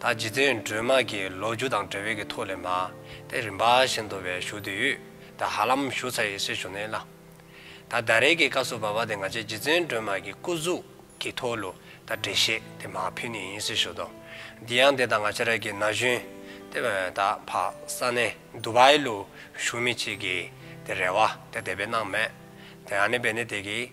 ད་ཇི་སྟེ་སྒྲོལ་མ་ཀྱི་ལོ་རྒྱུ་དང་འབྲེལ་བའི་གི་ཐོག་ལས་མ་དེ་རིམ་པ་བཞིན་དུ་བའི་ཞུ་དུས་ཡུས་ད་ཧ་ལམ་ཞུ་ཚ་ཡི་སེ་ཞུ་ནས་ལ། ད་ད་རེས་ཀྱི་ཀ་སུ་བ་བ་དེ་ང་ཅའི་ཇི་སྟེ་སྒྲོལ་མ་ཀྱི་སྐུ་གཟུགས་ཀྱི་ཐོག་ལུ་ད་འབྲེལ་བཤད་དེ་མ་ཕུལ་ནི་ཡིན་སེ་ཞུ་དོ། འདི་ཡང་དེ་ད་ང་ཅ་ར་ཀྱི་ན་གཞོན་དེ་བ་ད་བ་ས་ནས་འདུ་བའི་ལུ་ཞུ་མི་ཅིག་གི་དེ་རེ་བ་དེ་དེ་བས་གནང་མེད་དེ་ཨ་ནི་བས་ནི་དེ་གི་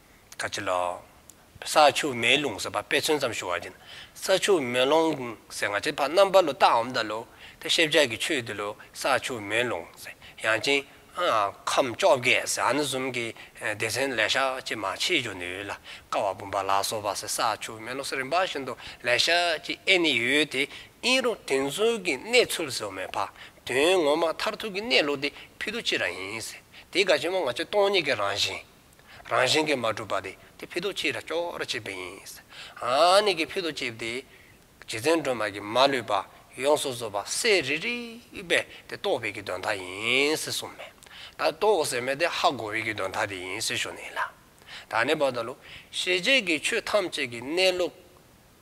ཁ་ཆེ་ལགས། ས་ཆུ་མེ་རླུང་ཟེར་བ་དཔེ་མཚོན་ཙམ་ཞུ་བ་ཡིན། ས་ཆུ་མེ་རླུང་ཟེར་ང་ཚོའི་ཕ་རྣམ་པ་ལོ་རྟགས་འམ་ད་ལོ་དེ་ཤེས་བྱ་གི་ཆོས་དེ་ལོ་ས་ཆུ་མེ་རླུང་ཟེར་ཡང་ཅིང་ཁམས་བཅོ་བརྒྱད་ཟེར་ཨ་ན་གསུམ་གི་སྡེ་ཚན་ལས་ཤག་ཅིག་མ་ཕྱིས་འཇོག་ནུས་ལ་ཀ་བ་བུམ་པ་ལ་སོགས་པ་ཟེར་ས་ཆུ་མེ་རླུང་ཟེར་རིམ་པ་བཞིན་དུ་ལས་ཤག་ཅིག་ཨེ་ནི་ཡོད་དེ་ཨིན་རུང་དེ་ཚོའི་གི་གནས་ཚུལ་ཟེར་བ་མེད་ཕ་དོན་ངོ་མ་མཐར་ཐུག་གི་གནས་ལུགས་དེ་ཕི་ཏུ་ཅི་རང་ཡིན་ཟེར་དེ་ག་ཆེན་པོ་ང་ཚོའི་སྟོང་ཉིད་ཀྱི་རང་བཞིན། རང་བཞིན་གྱིས་མ་གྲུབ་པ་དེ་དེ་ཕུལ་དུ་ཅི་ར་སྐྱོ་ར་བྱེད་པས་ཡིན། ཨཱ་ནི་གི་ཕུལ་དུ་བྱེད་དེ། རྗེ་བཙུན་སྒྲོལ་མ་གྱིས་མ་ལུས་པ་ཡོངས་སུ་བཟོད་པ་གསལ་རིག་རིག་པས་དེ་རྟོགས་པའི་གི་དོན་དག་ཡིན་ཟེར་གསུངས་མོད། ད་རྟོགས་ཟེར་མོད་དེ་ཧ་གོ་བའི་གི་དོན་དག་དེ་ཡིན་ཟེར་ཞུ་ནི་ལ། ད་ནི་བ་ད་ལོ་ཤེས་བྱེད་ཀྱི་ཆོས་ཐམས་ཅད་ཀྱི་གནས་ལུགས་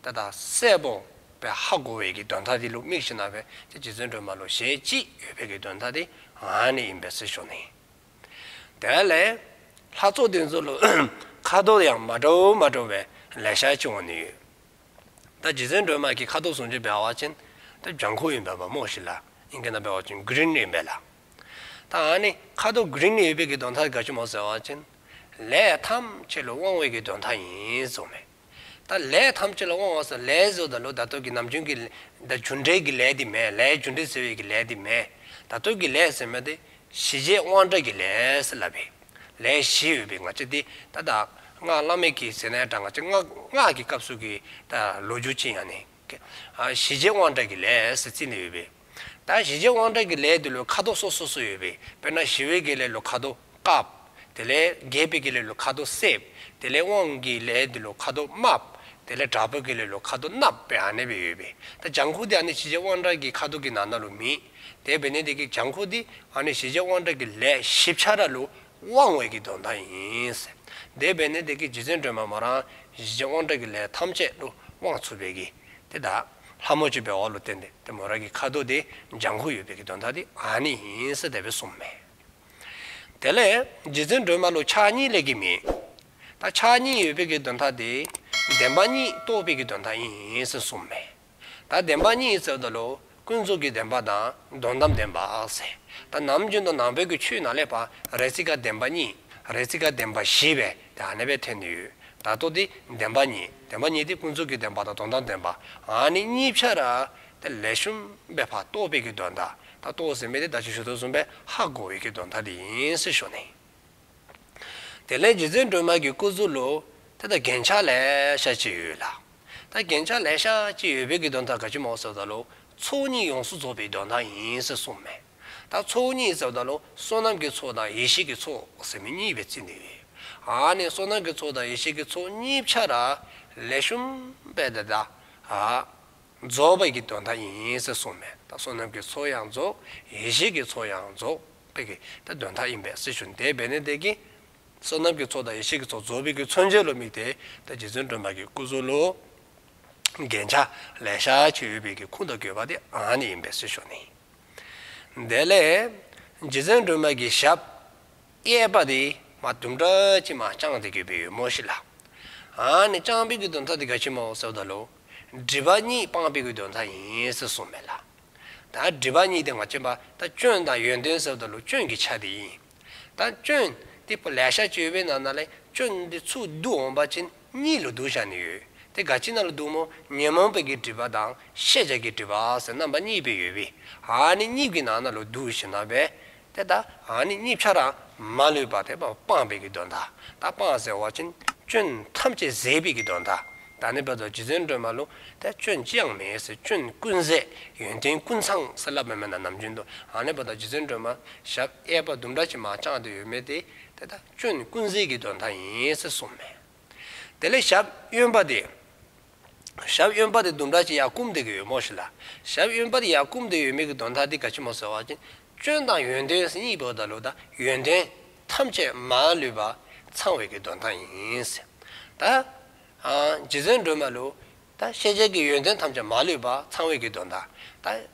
དེ་དག་གསལ་པོ་བས་ཧ་གོ་བའི་གི་དོན་དག་དེ་ལུགས་དམིགས་ཤིང་ན་བས་དེ་རྗེ་བཙུན་སྒྲོལ་མ་ལོ་ཞེས་ཅིག་ཡོད་པའི་གི་དོན་དག་དེ་ཨཱ་ནི་ཡིན་པས་ཟེར་ཞུ་ནི། དེ་ལས། ལྷ་ཚོགས་དེ་ཚོ་ལ་ཁ་དོག་ཡང་མ་འདྲ་བོ་མ་འདྲ་བའི་ལས་ཤར་བྱུང་བ་ནི་ཡོད། ད་རྗེ་བཙུན་སྒྲོལ་མ་ཀྱི་ཁ་དོག་ཟུང་ཆེ་བལ་བ་ཅན། ད་ལྗང་ཁུ་ཡིན་པའི་བ་མོ་ཞིག་ལ་ཨིན་ཀེ་ན་བལ་བ་ཅན Green ཡིན་པས་ལ། ད་འང་ནི་ཁ་དོག Green ཡོད་པའི་གི་དོན་དག་གི་དགའ་ཆུ་མོ་ཟེར་བ་ཅན། ལས་ཐམས་ཅད་ལ་དབང་བའི་གི་དོན་དག་ཡིན་གསུངས་མེད། ད་ལས་ཐམས་ཅད་ལ་དབང་འོག་སོགས་ལས་བཟོ་ད་ལོ་ད་སྟོད་ཀྱི་ནམ་རྒྱུན་གྱི། ད་རྒྱུ་འབྲས་ཀྱི་ལས་དེ་མེད་ལས་རྒྱུ་འབྲས་ཟེར་བའི་གི་ལས་དེ་མེད། ད་སྟོད་ཀྱི་ལས་ཟེར་མེད་དེ། གཞི་རྗེས་དབང་དྲག་གི་ལས་ལབ་པའི། ལས་བཞི་ཡོད་པའི་ང་ཅི་དེ་ད་བདག། སྔགས་བླ་མེད་ཀྱི་ཟེར་ནའི་དྲག་ང་ཅི་སྔགས་སྔགས་ཀྱི་སྐབས་སུ་གི། ད་ལོ་རྒྱུ་ཅི་ཡང་ནི། གཞི་རྗེས་དབང་དྲག་གི་ལས་ཟེར་རྩིས་ནས་ཡོད་པའི། ད་གཞིས་བྱེས་དབང་དྲག་གི་ལས་དེ་ལོའི་ཁ་དོག་སོ་སོ་སོ་ཡོད་པས་དཔེར་ན་ཞི་བའི་དགེ་ལས་ལོ་ཁ་དོག་དཀར། དེ་ལས་རྒྱས་པའི་དགེ་ལས་ལོ་ཁ་དོག་སེར། དེ་ལས་དབང་གི་ལས་དེ་ལོ་ཁ་དོག་དམར། དེ་ལས་དྲག་པོའི་དགེ་ལས་ལོ་ཁ་དོག་གནག་པའི་ཨ་ནེ་བས་ཡོད་པས་ད་ལྗང་ཁུ་དེ་ཨ་ནེ་གཞིས་བྱེས་དབང་དྲག་གི་ཁ་དོག་གི་ནང་ན་ལོ་མིན། དེ་བས་ན་དེ་གི་ལྗང་ཁུ་དེ་ཨ་ནེ་གཞིས་བྱེས་དབང་དྲག་གི་ལས་ཞིབ་ཆ་ར་ལོ་དབང་བས་ཀྱི་དོན་དག་ཡིན། དེ་བས་ན་དེ་གི་རྗེ་བཙུན་སྒྲོལ་མ་མ་རང་གཞིས་བྱེས་དབང་དྲག་གི་ལས་ཐམས་ཅད་ལོ་དབང་ཚུགས་པས་ཀྱི་དེ་དག། ལྷ་མོ་བཅུ་པའི་འོག་ལོ་བསྟན་ཏེ་དེ་མོ་ར་གི་ཁ་དོག་དེ་ལྗང་ཁུ་ཡོད་པའི་གི་དོན་དག་དེ་ཨ་ནི་ཡིན་སྲིད་དད་པའི་སྲུང་མས། དེ་ལས་རྗེ་བཙུན་སྒྲོལ་མ་ལོ་ཕྱག་གཉིས་ལས་གི་མིན། ད་ཕྱག་གཉིས་ཡོད་པའི་གི་དོན་དག་དེ་བདེན་པ་གཉིས་རྟོགས་པའི་གི་དོན་དག་ཡིན་སྲིད་སྲུང་མས། ད་བདེན་པ་གཉིས་ཟེར་བ་ད་ལོ་ཀུན་རྫོབ་གི་བདེན་པ་དང་དོན་དམ་བདེན་པ་ཟེར། ད་ནམ་རྒྱུན་དུ་ནང་པའི་གི་ཆོས་ནང་ལས་པ་རེ་ཚིག་ཀ་བདེན་པ་གཉིས་རེ་ཚིག་ཀ་བདེན་པ་བཞི་བས་དེ་ནི་པའི་དོན་དུ་ཡོད། བདག་རྟོག་དེ་བདེན་པ་ཉིད། བདེན་པ་ཉིད་དེ་ཀུན་རྫོབ་ཀྱི་བདེན་པ་དང་དོན་དམ་བདེན་པ། ནི་གཉིས་ཆར་ར། དེ་ལས་གཞོམ་པའི་བར་རྟོག་པའི་ཀྱི་དོན་དག་དང་རྟོག་ཟིན་པའི་དེ་བདག་ཅེས་ཞུ་དོན་གསུམ་པའི་ཧ་གོ་བའི་ཀྱི་དོན་དག་དེ་ཡིན་ཟེར་ཞོར་ནས། དེ་ལས་རྗེ་བཙུན་སྒྲོལ་མ་ཀྱི་སྐུ་གཟུགས་ལུགས་དེ་དང་རྒྱན་ཆ་ལས་ཤར་གྱི་ཡོད་ལ། ད་རྒྱན་ཆ་ལས་ཤར་གྱི་ཡོད་པའི་ཀྱི་དོན་དག་ག་གྱི་མོ་སོ་དང་ལུགས་ཚོགས་གཉིས་ཡོངས་སུ་རྫོགས་པའི་དོན་དག་ཡིན་ཟེར་གསུངས་མེད། ད་ཚོགས་གཉིས་ཟེར་བ་དང་ནི་བསོད་ནམས་ཀྱི་ཚོགས་དང་ཡེ་ཤེས་ཀྱི་ཚོགས་ཟེར་མི་གཉིས་པའི་ཚིག་འདི་ཨ་ནི་བསོད་ནམས་ཀྱི་ཚོགས་དང་ཡེ་ཤེས་ཀྱི་ཚོགས་གཉིས་ཕྱ་ར་ལས་ཤུམ་པས་འདི་དག་རྫོགས་པའི་ཀྱི་དོན་དག་ཡིན་ཟེར་གསུངས་མེད་ད་བསོད་ནམས་ཀྱི་ཚོགས་ཡང་རྫོགས་ཡེ་ཤེས་ཀྱི་ཚོགས་ཡང་རྫོགས་པའི་ཀྱི་དེ་དོན་དག་ཡིན་པས་སྲི་ཞུ་འདས་པས་ནི་འདས་ཀྱི་བསོད་ནམས་ཀྱི་ཚོགས་དང་ཡེ་ཤེས་ཀྱི་ཚོགས་རྫོགས་པའི་ཀྱི་མཚོན་བྱེད་ལོ་མིག་དེ་ད་རྗེ་བཙུན་སྒྲོན་མ་ཀྱི་སྐུ་གཟུགས་ལོ་རྒན་ཕྱ་ལས་ཤར་གྱི་ཡོད་པའི་ཀྱི་ཁུངས་དང་གོ་བ་དེ་ཨ་ནི་ཡིན་པས་སྲི་ཞུ་ནི། དེ་ལས་རྗེ་བཙུན་སྒྲོལ་མ་གྱི་ཞབས་གཡས་པ་དེ་མ་དུམ་བཀྲ་ཆེན་མ་བསྐྱངས་ཏེ་གུས་པའི་ཡུ་མོ་ཞིག་ལ། ཨཱ་ནི་བསྐྱངས་པས་གུས་དོན་མཐའ་དེ་དགའ་ཆེན་མོ་གསལ་བ་དང་ལུགས་སྒྲིབ་པ་གཉིས་སྤངས་པས་གུས་དོན་མཐའ་ཡིན་ཟེར་གསུངས་མེད་ལ། ད་སྒྲིབ་པ་གཉིས་དེ་ང་སྤྱོད་པ་ད་སྐྱོན་དང་ཡོན་ཏན་གསལ་བ་དང་ལུགས་སྐྱོན་གྱི་ཆ་དེ་ཡིན། དང་སྐྱོན། དེ་སྤུ་ལས་ཤ་གཅོད་པའི་ནང་ན་ལས་སྐྱོན་འདི་ཚུགས་བསྡུ་འོངས་པ་ཅན་གཉིས་ལོ་དུ་བཞག་ནས་ཡོད་དེ་ག་ཅི་ན་ལོ་དུ་མོ་ཉོན་མོངས་པའི་གི་དྲི་བ་དང་ཤེས་བྱ་གི་དྲི་བ་སེ་རྣམ་པ་གཉིས་པའི་ཡོད་པས་ཨ་ནི་གཉིས་ཀྱི་ནང་ན་ལོ་དུ་བཞི་ན་བས་དེ་ད་ཨ་ནི་གཉིས་ཆ་རང་མ་ལུས་པ་དེ་སྤངས་པའི་གི་དོན་དང་ད་སྤངས་ཟེར་བ་ཅན་སྐྱོན་ཐམས་ཅད་ཟད་པའི་གི་དོན་དང་ད་ནི་བས་དོ་རྗེ་བཙུན་སྒྲོལ་མ་ལུང་དེ་སྐྱོན་ཅི་ཡང་མེད་ཟེར་སྐྱོན་ཀུན་ཟད་ཡོན་ཏན་ཀུན་ཚང་ཟེར་བསླབ་པ་མེད་ན་ནམ་རྒྱུན་དུ་ཨ་ནི་བས་དོ་རྗེ་བཙུན་སྒྲོལ་མ་ཞབས། གཡས་པ་ལྡུམ་ར་གྱིས་མ་བཅངས་ཏེ་ཡོད་མེད་དེ་དེ་དག་བཅུ་ནི་ཀུན་གཟིགས་ཀྱི་དོན་དག་ཡིན་ཚུལ་གསུངས་མོད། དེ་ལས་ཞབས་གཡོན་པ་དེ། ཞབས་གཡོན་པ་དེ་ལྡུམ་ར་གྱིས་ཡར་བསྐུམ་བསྡད་ཀྱི་ཡོད་མོད་ཞེས་ལ། ཞབས་གཡོན་པ་དེ་ཡར་བསྐུམ་བསྡད་ཡོད་མེད་ཀྱི་དོན་དག་འདི་ག་ཕྱི་མོ་ཟེར་བ་བཞིན་སྐྱོན་དང་ཡོན་ཏན་གཉིས་པོའི་བརྡ་ལུགས་དང་ཡོན་ཏན་ཐམས་ཅད་མ་ལུས་པ་ཚང་བའི་ཀྱི་དོན་དག་ཡིན། ད་རྗེ་བཙུན་སྒྲོལ་མ་ལུགས། ད་ཤེས་བྱའི་ཀྱི་ཡོན་ཏན་ཐམས་ཅད་མ་ལུས་པ་ཚང་བའི་ཀྱི་དོན་དག། ད།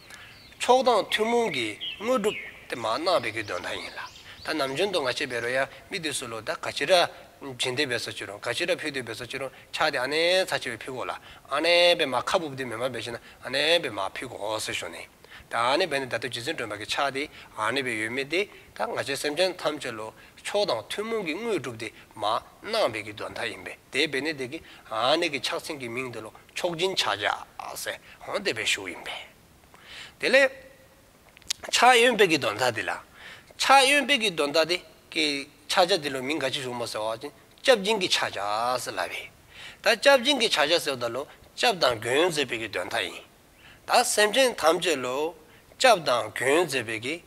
ཚོགས་དང་ཐུན་མོང་གི་དངོས་གྲུབ་དེ་མ་གནང་བའི་གི་དོན་དག་ཡིན་ལ། ད་ནམ་རྒྱུན་དུ་ང་ཆེ་བེ་རོ་ཡ་མི་དེ་སུ་ལོ་ད་ག་ཅི་ར་སྦྱིན་དེ་བེ་སོ་ཅི་རུང་ག་ཅི་ར་ཕུལ་དེ་བེ་སོ་ཅི་རུང་ཆགས་དེ་ཨ་ནེ་ཚ་ཆེ་བེ་ཕུལ་གོ་ལ་ཨ་ནེ་བེ་མ་ཁ་བུབ་དེ་མེ་མ་བེ་ཆེ་ན་ཨ་ནེ་བེ་མ་ཕུལ་གོ་ཨོ་སི་ཞོ་ནི། ད་ཨ་ནེ་བེ་ནི་ད་ཐུགས་རྗེ་བརྩོན་སྒྲོན་པ་གི་ཆགས་དེ་ཨ་ནེ་བེ་ཡོད་མེད་དེ་ད་ང་ཆེ་སེམས་ཅན་ཐམས་ཅད་ལོ་ཚོགས་དང་ཐུན་མོང་གི་དངོས་གྲུབ་དེ་མ་གནང་བའི་གི་དོན་དག་ཡིན་པས་དེ་བེ་ནི་དེ་གི་ཨ་ནེ་གི་ཕྱག་མཚན་གི་མིང་དེ་ལོ། མཆོག་སྦྱིན་ཕྱག་རྒྱ་སེ་ཧོན་བདེ་བའི་ཞུགས་ཡིན་པས། དེ་ལས། ཕྱག་གཡོན་དཔལ་གྱི་དོན་དག་འདི་ལ། ཕྱག་གཡོན་དཔལ་གྱི་དོན་དག་འདི་ཀའི་ཕྱག་རྒྱ་འདི་ལོ་མིང་ག་ཅི་བྱུང་མ་ཟེར་བ་ཅིང་སྐྱབས་སྦྱིན་གྱི་ཕྱག་རྒྱ་སེ་ལ་བས། ད་སྐྱབས་སྦྱིན་གྱི་ཕྱག་རྒྱ་ཟེར་བ་དག་ལོ་སྐྱབས་དང་གུ་ཡོན་མཛད་པའི་གྱི་དོན་དག་ཡིན། ད་སེམས་ཅན་ཐམས་ཅད་ལོ་སྐྱབས་དང་གུ་ཡོན་མཛད་པའི་གྱི་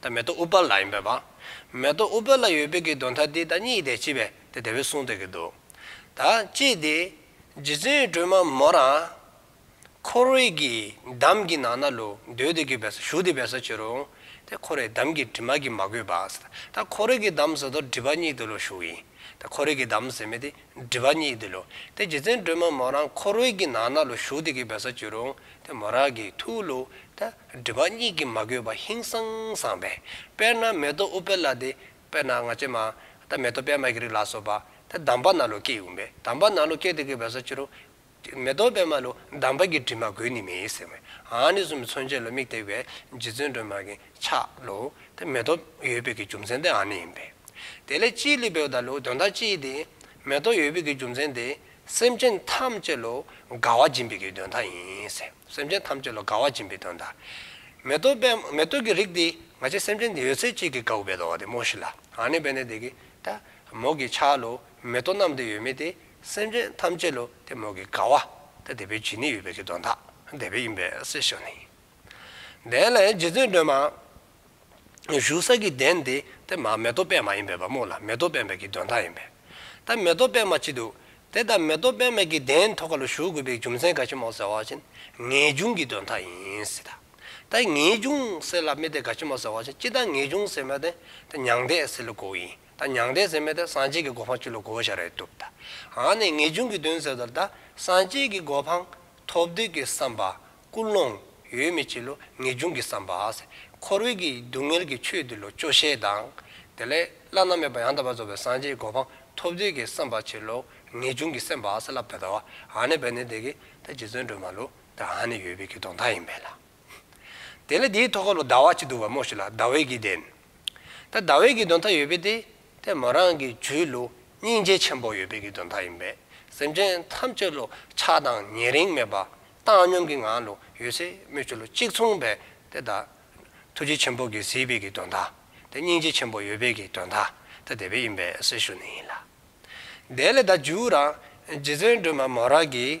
ད་མེ་ཏོག་ཨུ་པལ་ལ་ཡིན་པས་བང། མེ་ཏོག་ཨུ་པལ་ལ་ཡོད་པའི་གི་དོན་ཐ་དད་ད་གཉིས་ཡི་དེ་གཅིག་པས་དེ་དེ་བས་གསུངས་ཏེ་གི་འདུག། ད་ཅེས་ཏེ། རྗེ་བཙུན་སྒྲོལ་མ་མོ་རང། འཁོར་བའི་གི་འདམ་གི་ནང་ན་ལུ་འདོད་དེ་གི་བས་སོ་ཞུགས་དེ་བས་སོ་ཅི་རུང། དེ་འཁོར་བའི་འདམ་གི་དྲི་མ་གི་མ་གོས་པ། ད་འཁོར་བའི་གི་འདམ་ཟེར་དོ་སྒྲིབ་པ་གཉིས་དུ་ལུ་ཞུགས་ཡིན། ད་འཁོར་བའི་གི་འདམ་ཟེར་མེད་དེ་འདྲི་བ་གཉིས་འདི་ལོ། དེ་རྗེ་བཙན་སྒྲོལ་མ་མོ་རང་ཁོ་རོའི་གྱི་ནང་ན་ལོ་ཞུགས་དེ་གི་བས་ས་བཅུ་རུང་དེ་མོ་རང་གི་ཐུགས་ལོ། ད་འདྲི་བ་གཉིས་གི་མ་གོས་པ་ཧིན་སང་སང་བས་དཔེར་ན་མེ་ཏོག་ཨུ་པེ་ལ་དེ་དཔེར་ན་ང་ཆེ་མ། ད་མེ་ཏོག་པད་མ་གི་རིགས་ལ་སོགས་པ། དེ་དམ་པ་ན་ལོ་སྐྱེས་ཡོང་བས་དམ་པ་ན་ལོ་སྐྱེས་དེ་གི་བས་ས་བཅུ་རུང། མེ་ཏོག་པད་མ་ལོ་འདམ་བག་གི་དྲི་མ་གོས་ནི་མེད་ཟེར་བས། ཨཱ་ནི་གསུམ་པོ་མཚོན་བྱེད་ལོ་མིག་བཏེགས་པའི་རྗེ་བཙུན་སྒྲོལ་མ་གིང་ཆགས་ལོ། དེ་མེ་ཏོག་ཡོད་པའི་གི་རྒྱུ་མཚན་དེ་ཨཱ་ནི་ཡིན་པས། དེ་ལས་སྤྱིའི་ལུས་པའི་བརྡ་ལོ་དོན་དག་སྤྱི་ཡི་དེ། མེ་ཏོག་ཡོད་པའི་གི་རྒྱུ་མཚན་དེ། སེམས་ཅན་ཐམས་ཅད་ལོ་དགའ་བ་སྦྱིན་པའི་གི་དོན་དག་ཡིན་ཟེར། སེམས་ཅན་ཐམས་ཅད་ལོ་དགའ་བ་སྦྱིན་པའི་དོན་དག། མེ་ཏོག་པད་མ་མེ་ཏོག་གི་རིགས་དེ། ང་ཅི་སེམས་ཅན་དེ་ཡོད་ཚད་ཅིག་གི་དགའ་བོ་བས་དོ་བ་དེ་སྨྲོས་ཤིག་ལ། ཨཱ་ནི་བས་ནི་དེ་གི། ད་མོ་གིང་ཆགས་ལོ། མེ་ཏོག་རྣམས་དེ་ཡོད་མེད་དེ། སེམས་ཅན་ཐམས་ཅད་ལུས་དེ་མོ་གི་དགའ་བ་སྟེ་དེ་པའི་བྱིན་ནི་ཡོད་པའི་ཀྱི་དོན་དག་འདས་པའི་ཡིན་པས་སེ་ཞོ་ནི། གདན་ལ་ཡང་རྗེ་བཙུན་སྒྲོལ་མ་བཞུགས་ས་ཀྱི་གདན་འདི་དེ་མ་མེ་ཏོག་པད་མ་ཡིན་པས་པདྨོ་ལ་མེ་ཏོག་པད་མའི་ཀྱི་དོན་དག་ཡིན་པས་ད་མེ་ཏོག་པད་མ་ཅི་འདུག་དེ་ལྟར་མེ་ཏོག་པད་མའི་ཀྱི་གདན་མཐོ་ག་ལ་བཞུགས་དགོས་པའི་རྒྱུ་མཚན་ག་ཕྱི་མོ་ཟེར་བ་བཞིན་ངེས་འབྱུང་གི་དོན་དག་ཡིན་སྲིད་ད། ད་ངེས་འབྱུང་སེ་ལ་མི་དེ་ག་ཕྱི་མོ་ཟེར་བ་བཞིན་ཅི་ད་ངེས་འབྱུང་སེ་མོ་དེ་ད་མྱང་འདས་སེ་ལ་གོ་ཡིན་ད་མྱང་འདས་ཟེར་མེད་ད་སངས་རྒྱས་ཀྱི་གོ་འཕང་བཅུ་ལ་གོ་བོ་ཤ་རེད་བཏུབ་ད་འང་ནས་ངེས་འབྱུང་གི་དོན་ཟེར་དོར་ད་སངས་རྒྱས་ཀྱི་གོ་འཕང་ཐོབ་འདོད་ཀྱི་བསམ་པ་ཀུན་སློང་ཡོད་མི་བྱེད་ལོ་ངེས་འབྱུང་གི་བསམ་པ་འཁོར་བའི་གི་སྡུག་བསྔལ་གྱི་ཆོས་འདི་ལོ་སྐྱོ་ཤས་དང་དེ་ལས་བླ་ན་མེད་པ་ཡང་དག་པར་རྫོགས་པའི་སངས་རྒྱས་གོ་འཕང་ཐོབ་འདོད་ཀྱི་བསམ་པ་བྱེད་ལོ་ངེས་འབྱུང་གི་སེམས་པ་ལ་བསླབ་ད་ད་འང་ནས་བས་ནས་དེ་གི་ད་རྗེ་བཙུན་སྒྲོལ་མ་ལུགས་ད་འང་ནས་ཡོད་པའི་གི་གདོང་མཐའ་ཡིན་པས་ལ། དེ་ལ་དེའི་ཐོག་ཁ་ལོ་ཟླ་བ་གཅིག་འདུག་བ་མོ་ཞིག་ལ་ཟླ་བའི་དགེ་ལྡན། ད་ཟླ་བའི་དགེ་འདུན་ཐ་ཡོད་པས་ཏེ་དེ་མོ་རང་གི་ཇུས་ལོ་སྙིང་རྗེ་ཆེན་པོ་ཡོད་པའི་དགེ་འདུན་ཐ་ཡིན་པས་སེམས་ཅན་ཐམས་ཅད་ལོ་ཆགས་དང་ཉེ་རིང་མེད་པ་བཏང་སྙོམས་ཀྱི་ངང་ལོ་ཡོད་ཚད་སྨོས་ཅི་ལོ་གཅིག་མཚུངས་པས་ཏེ་ད་ཐུགས་རྗེ་ཆེན་པོ་དགེ་སེལ་བའི་དགེ་འདུན་ཐ་དེ་སྙིང་རྗེ་ཆེན་པོ་ཡོད་པའི་དགེ་འདུན་ཐ་དེ་དེ་བས་ཡིན་པས་སེལ་ཞུ་ནི་ཡིན་ལ། དེ་ལས་ད་ཇུས་རང་རྗེ་བརྩོན་འགྲུས་མ་མོ་རང་གིས།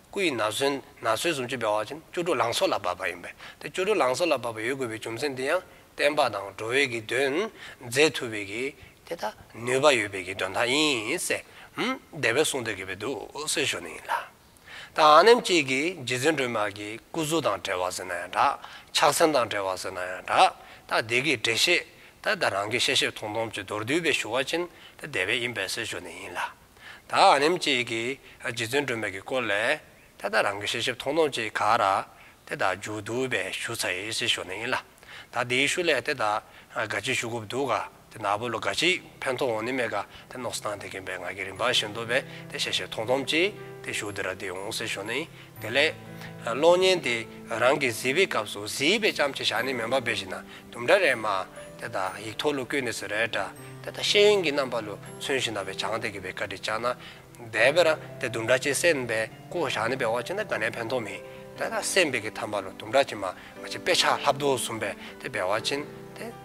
སྐུ་ཡི་ན་བཟོད་ན་བཟོད་གསུམ་སྤྱོད་པའི་བར་གྱིས་ནི་བཅུ་དྲུག་ལང་སོ་ལ་བབ་པ་ཡིན་པས་དེ་བཅུ་དྲུག་ལང་སོ་ལ་བབ་པ་ཡོད་དགོས་པའི་རྒྱུ་མཚན་འདི་ཡང་བསྟན་པ་དང་འགྲོ་བས་ཀྱི་དོན་མཛད་ཐུབ་པས་ཀྱི་དེ་དག་ནུས་པ་ཡོད་པས་ཀྱི་དོན་དག་ཡིན། སྡེ་པའི་གསུང་དོན་གྱི་བའི་དུ་སོལ་ཞོ་ནི་ཡིན་ལ། དང་ཨ་ནེམ་སྐྱིད་ཀྱིས་རྗེ་བཙུན་སྒྲོལ་མ་ཀྱི་སྐུ་གཟུགས་དང་བྲལ་བར་ཟེར་ན་ཡང་འདྲ། ཕྱག་མཚན་དང་བྲལ་བར་ཟེར་ན་ཡང་འདྲ། ད་སྡེ་ཀྱི་འགྲེལ་བཤད་ད་ད་རང་གི་ཤེས་ཤེས་མཐོང་མཐོང་གཅིག་མདོར་བསྡུས་པའི་ཞུ་བ་ཅན་ད་སྡེ་པའི་ཡིན་པས་སོལ་ཞོ་ནི་ཡིན་ལ། ད་ཨ་རིམ་གཅིག་གིས་རྗེ་བཙུན་སྒྲོལ་མས་ཀྱི་སྐོར་ལས། དེ་ལྟར་རང་གི་ཤེས་བྱེད་ཐོང་ཐོང་གཅིག་ག་ར། དེ་དག་འཇུག་འདུག་པས་ཞུ་ཚ་ཡི་སི་ཞོ་ནི་ཡིན་ལ། ད་དེའི་ཤུ་ལས་དེ་དག་ག་ཅིག་ཞུ་གོ་བདུག་ག་དེ་ནག་པོ་ལོ་ག་ཅིག་ཕན་ཐོ་འོང་ནི་མེད་ག་དེ་ནོགས་སི་ཐང་དེ་གིན་པའི་ང་གི་རིན་པ་ཞིག་འདུག་པས་དེ་ཤེས་བྱེད་ཐོང་ཐོང་གཅིག་དེ་ཞུ་དེ་ར་དེ་འོང་སི་ཞོ་ནི་དེ་ལས། གློག་བརྙན་དེ་རང་གི་གཟིགས་པའི་སྐབས་སུ་གཟིགས་པའི་ལྕམ་གྱི་ཞག་ནི་མོན་པ་བེ་ཞིག་ན་དུམ་འདྲ་རེ་མ། དེ་དག་ཡིག་ཐོག་ལུ་གུའི་གནས་སུ་རལ་གྲ། དེ་དག་ཤེས་ཡོན་གྱི་རྣམ་པ་ལུ་མཚོན་ཞིག་ན་བེ་བྱང་སྟེ་གི་བེ་ཀ་དྲི་ལྕགས་ན། བེ་བེ་ར་དེ་དུམ་འདྲ་ཅིག་སེམས་བེ་ཀོ་ཞག་ནི་བེ་བ་ཅིག་ན་ག་ནས་ཕན་ཐོག་མིན། དེ་དག་སེམས་བེ་ཀི་ཐམ་པ་ལུ་དུམ་འདྲ་ཅིག་མ་མ་ཅིག་བེ་ཆགས་ལྷབ་དོ་ཟུམ་བེ་དེ་བེ་བ་ཅིན་དེ།